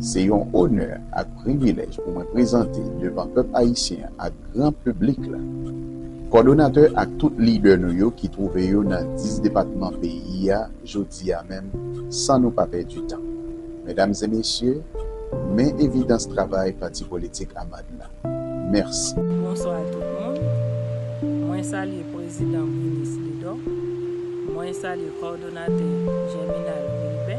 Se yon onè ak privilèj pou mwen prezante devan pèp ayisyen ak gran piblik la, kòdonatè ak tout lidè nou yo ki twouve yo nan 10 depatman peyi a jodi a menm san nou pa pèdi tan. Medam e mesye, men evidans travay Pati Politik Amad la. Mèsi. Bonswa tout moun. Mwen salye Prezidan Brinis Lidò. Mwen salye kòdonatè Jèminal Vilbè.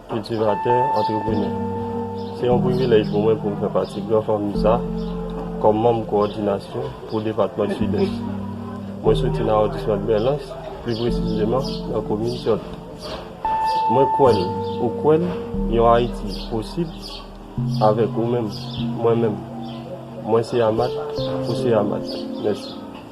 Kiltivatè, antreprenè. Se yon privilèj pou mwen pou m fè pati gran fanmi sa kòm manm kowòdinasyon pou depatman Sidès. Mwen soti nan awondisman Dmèlans, pi presizeman nan komin Tyòt. Mwen kwè l, ou kwè l, yon Ayiti posib avèk ou menm, mwen menm. Mwen se Amat, ou se Amat. Mèsi.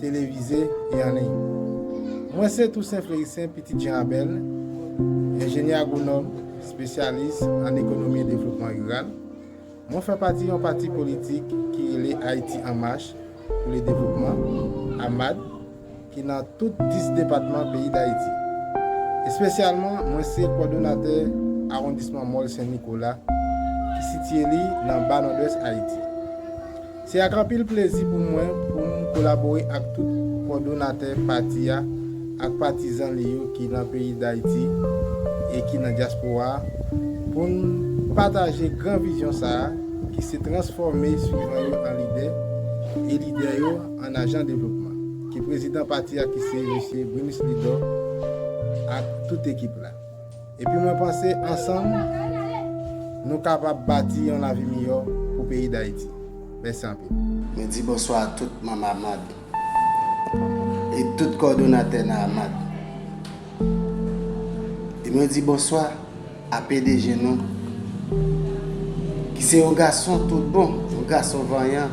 televize e an liy. Mwen se Toussaint Fleurissaint, pitit Jean Abel, enjenyè agwonòm, espesyalis an ekonomi e devlopman riral. Mwen fè pati yon pati politik ki rele Ayiti an Mach pou le Devlopman, AMAD, ki nan tout 10 depatman peyi Dayiti. Espesyalman, mwen se kòdonatè awondisman Mòl Sen Nikola ki sitiye li nan Ba Nòdwès Ayiti. Se ak anpil plezi pou mwen pou m kolabore ak tout kòdonatè pati a ak patizan li yo ki nan peyi Dayiti e ki nan dyaspora a pou n pataje gran vizyon sa a ki se transfòme swivan yo an lidè e lidè yo an ajan devlopman ke prezidan pati a ki se Mesye Brunus Lidor ak tout ekip la. Epi mwen panse ansanm Nou kapab bati yon lavi miyò pou peyi dayiti mèsi anpil. Mwen di bonswa a tout manm AMAD e tout kòdonatè nan AMAD e mwen di bonswa a pdg nou ki se yon gason tout bon, yon gason vanyan.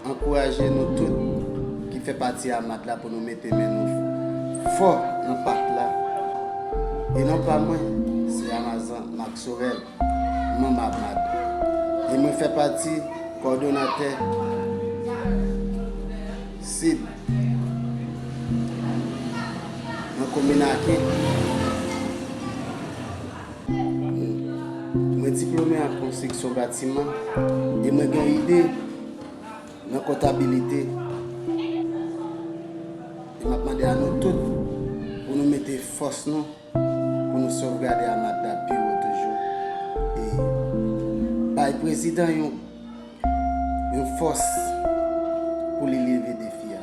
Ankouraje nou tout ki fè pati AMAD la pou nou mete men nou fò nan pak la e non pa mwen se Amazan Marc Sorel, manm AMAD e mwen fè pati kòdonatè Sid nan komin Aken. Mwen diplome an konstriksyon batiman e mwen gen ide nan kontabilite e map mande a nou tout pou nou mete fòs nou pou nou sovgade Amadap pi wo toujou e bay prezidan yon yon fòs pou li leve defi a.